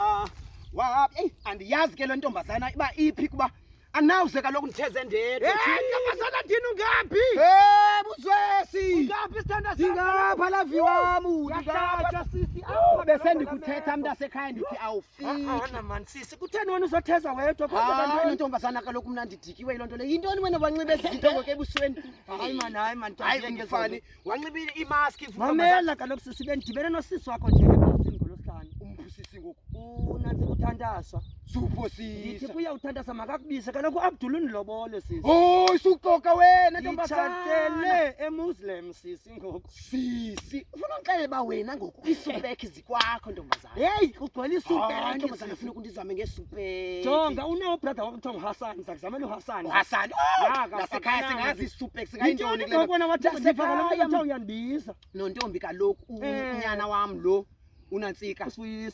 Ah, wahaphi. Ey, andiyazi ke le ntombazana iba iphi kuba anawuze kaloku nditheze ndedwa. Hey, ntombazana ndini ungaphi? Hey, buzwesi. Ungaphi isithanda sakho? Ndingapha la viwamu. Ndingapha sisi. Awu besendikuthetha mntasekhaya ndithi awufiki. Awona man sisi, kutheni wena uzotheza wedwa kodwa Hayi bantwana? ntombazana kaloku mna ndidikiwe yiloo nto le. Yintoni wena wanxibe ezi zinto ngoku ebusweni? Hayi man, hayi man. Hayi, ndiyazingeza umfani. wanxiba imaski mamela kaloku sisi bendidibene nosisi wakho nje ebhasini ngolosihlanu umphusisi ngoku unantsi kuthantaswa ndithi kuya uthantaswa makakubise kaloku uabdul undilobole sisi hoy suxoka wena nditshatele emuslim sisi ngoku sisi ufuna ndixelele uba wena ngoku iisupek kwakho ntombazana. Hey, kugcwele isupele ah, ntombazana ufuna ukundizame ngesupele. Jonga unawo brother wakho kuthiwa uHassan, ngizakuzamela uHassan. uHassan. Oh, Nasekhaya singazi isupele singayintoni kule. Ngibona wathi usifaka lo mntu kuthiwa uyandibiza. Nontombi kaloku eh. unyana wami lo. unantsika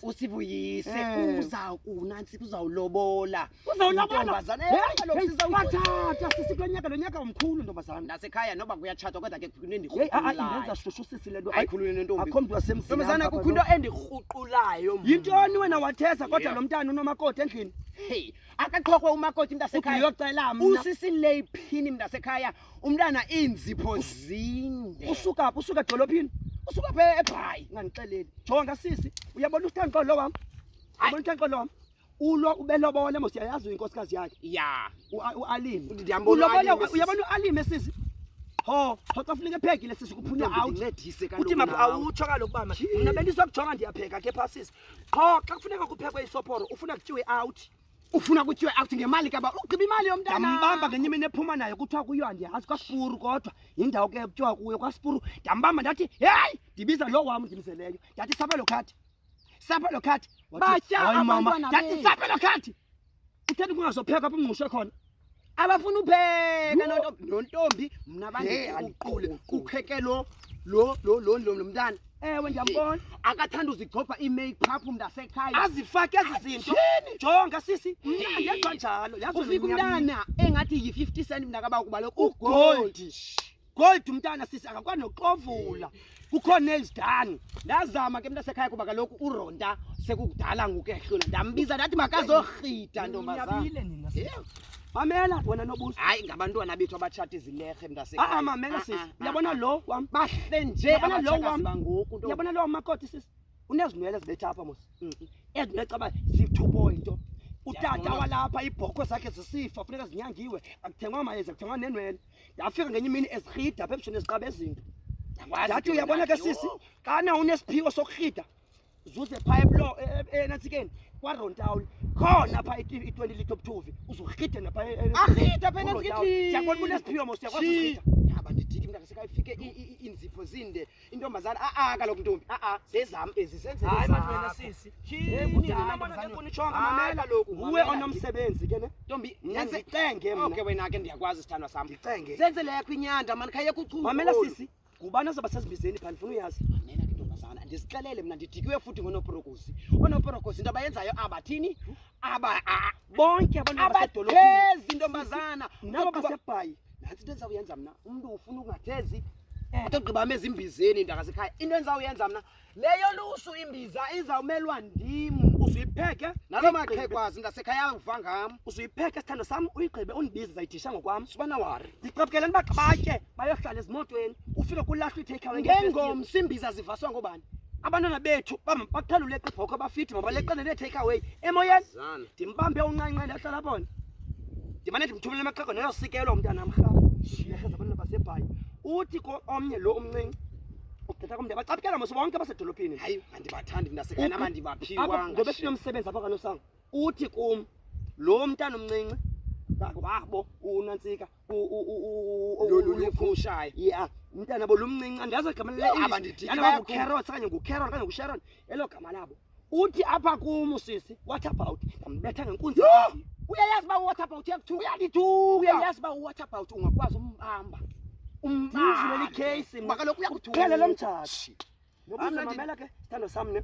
usivuyise eh. uzawunantsika uzawulobola Uzawuyabathatha sisi kulo nyaka lo nyaka umkhulu ntombazana. Nasekhaya noba kuyatshatwa kodwa ke kunendikrhuqulayo. Ah, ah, indenza shushu sisi le nto. Ayikhulule nentombi. Akho mntu wasemzini. Ntombazana kukho into endikrhuqulayo. Yintoni wena wathesa kodwa lo mntana unomakoti endlini? Hey, akaqhokwe umakoti mntasekhaya. Uyocela mna. Usisi le phini mntasekhaya. Umntana iinzipho zinde. Usuka phi? Usuka edolophini? Usuka phi ebhayi? Ngandixeleli. Jonga sisi, uyabona ustanqolo wam? Uyabona ustanqolo wam? ulo ubelobole mos yayazi uyinkosikazi yakhe ya ualime ulobole uyabona ualime sisi ho thoxa funeka epheki le sisi kuphunywa awuncedise kaloku uthi mapha awutsho kaloku bama mna bendizokujonga ndiyapheka ke pha sisi qho xa kufuneka kuphekwe isophoro ufuna kutyiwe out ufuna kutyiwe out ngemali kaba ugqiba imali yomntana ndambamba ngenye imini ephuma nayo kuthiwa kuyo andiyazi kwasipuru kodwa yindawo ke kutyiwa kuyo kwasipuru ndambamba ndathi heyi ndibiza lo wam ndimzeleyo ndathi sabelo khadi sapa lo khathi batya abantu ndathi sapa lo khathi uthanda kungazopheka apho mngqushe khona abafuna upheka nontombi mna bandiqule kukheke lo lo lo lo lo mntana ewe ndiyambona akathanda uzigcobha ii-makeup mntasekhaya azifake ezi zinto jonga sisi mna ngenza njalo yazi ufika umntana engathi yi-fifty cent mntakaba ukubaleka ugoldi Gold mntana sisi akakwazi noxovula. Kukhona izidani. Ndazama ke mntasekhaya kuba kaloku uRonda sekukudala ngoku ehlula. Ndambiza ndathi makazohita ntombazana. Niyabile nina. sisi. Yeah. Mamela wena nobuso. Hayi ngabantwana bethu abatshata izilehe mntasekhaya. Ah ah mamela sisi. ah, Uyabona ah. lo wam. Bahle nje Yabona lo abatshakazi wam. bangoku nto. Uyabona lo wam makoti sisi. Unezinwele zibetha apha mos. Mm. Ezinwele caba zithubo into. Utata Ndiyabona. walapha ibhokhwe zakhe zisifa funeka zinyangiwe. Akuthengwa mayeza kuthengwa nenwele. ndafika ngenye imini ezirhida apha ebusweni eziqaba ezinto ndathi uyabona ke sisi xana unesiphiwo sokurhida zuze phaa eblo e, e, e, enantsikeni kwarontawuni khona phaa i-twenty litre obuthuvi uzurhide napha arhida pha enantsikeni ndiyabona unesiphiwo mos uyakwazi urhida ndididi mntakaseka ifike iinzipho zinde intombazana a a kaloku ntombi a a zezam ezi zenze Hayi ezakho. madoda sisi. Hey, kunini Hayi, nabona ntombazana. ke kunitshonga Hayi, mamela loku Nguwe mamela. onomsebenzi ke ne. ntombi Mna yenze ndicenge mna. okay wena ke ndiyakwazi sithandwa sam Ndicenge. zenze leyo kwinyanda mani khayeka uchuku Mamela olu. sisi, ngubani ozoba sezibizeni phandle funa uyazi. mamela ke ntombazana ndizixelele mna ndidikiwe futhi ngonoporokosi onoporokosi into abayenzayo abathini aba a- Bonke abantu abasedolophini. abathezi ntombazana Nabo Kuqhuba- basebhayi. nantsi into endizawuyenza mna umntu ufuna ukungathezi eh. uthi ogqiba ame ezimbizeni iintaka zekhaya into endizawuyenza mna leyo lusu imbiza izawumelwa ndim usuyipheke nalo maqhekwazi ndasekhaya uva ngam usuyipheke sithando sam uyigqibe undibize ndizayidisha ngokwam subana wari ndiqabukele nibaqabatye bayohlala ezimotweni ufike kulahlwa ithekhawengengomsi imbiza zivaswa ngobani abantwana bethu bathanda uleqa ibhokhwe bafithi mabaleqane nee-take away emoyeni ndimbambe uncanca ndahlala bona ndimane ndimthumele amaxhego neyosikelwa umntana mrhaba ndiyaheza abantwana basebhayi uthi omnye lo umncinci ukuthetha komntu abacaphukela mos bonke abasedolophini hayi andibathandi mntasekhana abandibaphiwanga ngoba sinomsebenzi apha kanosango uthi kum lo mntana umncinci wabo unantsika uliphushayo ya mntana bo lumncinci andazi igama leleabandidiabakucarot okanye ngucaron okanye ngusharon elo gama labo uthi apha kum usisi what about ndambetha ngenkunzi uyayazi uba uwhat about uyakuthuka uyandithuka uyayazi uba uwhat about ungakwazi umbamba umbamba kaloku uyakuthuka lo mjaji ngobuza mamela ke sithando sam ne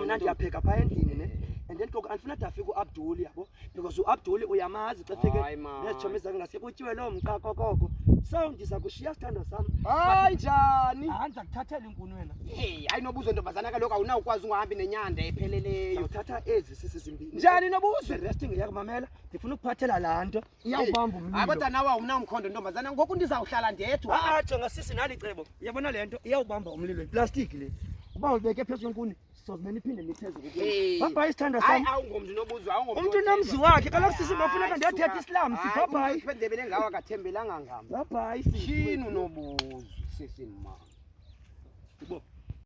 mna ndiyapheka phaa endlini ne and then koko andifuna de afike uabduli yabo because uabduli uyamazi xa fike nezitshomi zakhe ngaske kutyiwe loo mqa kokoko so ndiza kushiya sithando sam hayi njani hayi ndiza kuthathela inkuni wena hey hayi nobuzo ntombazana kaloku awunawukwazi ungahambi nenyanda epheleleyo uthatha ezi sisi zimbini njani nobuzo resting yakumamela ndifuna ukuphathela laa nto iyawubamba umlilo hayi kodwa nawe awunamkhondo ntombazana ngoku ndizawuhlala ndedwa ah, ah jonga sisi nali cebo uyabona le nto iyawubamba umlilo yiplastiki le uba ulibeke phezu kwenkuni sozimele iphinde niphezulu bhabhayi isithanda sam umntu unomzi wakhe kaloku sisi mafuneka ndiyathetha isilam sibhabhayi ndebele ngawo akathembelanga ngam bhabhayi sishini unobuzo sisi mma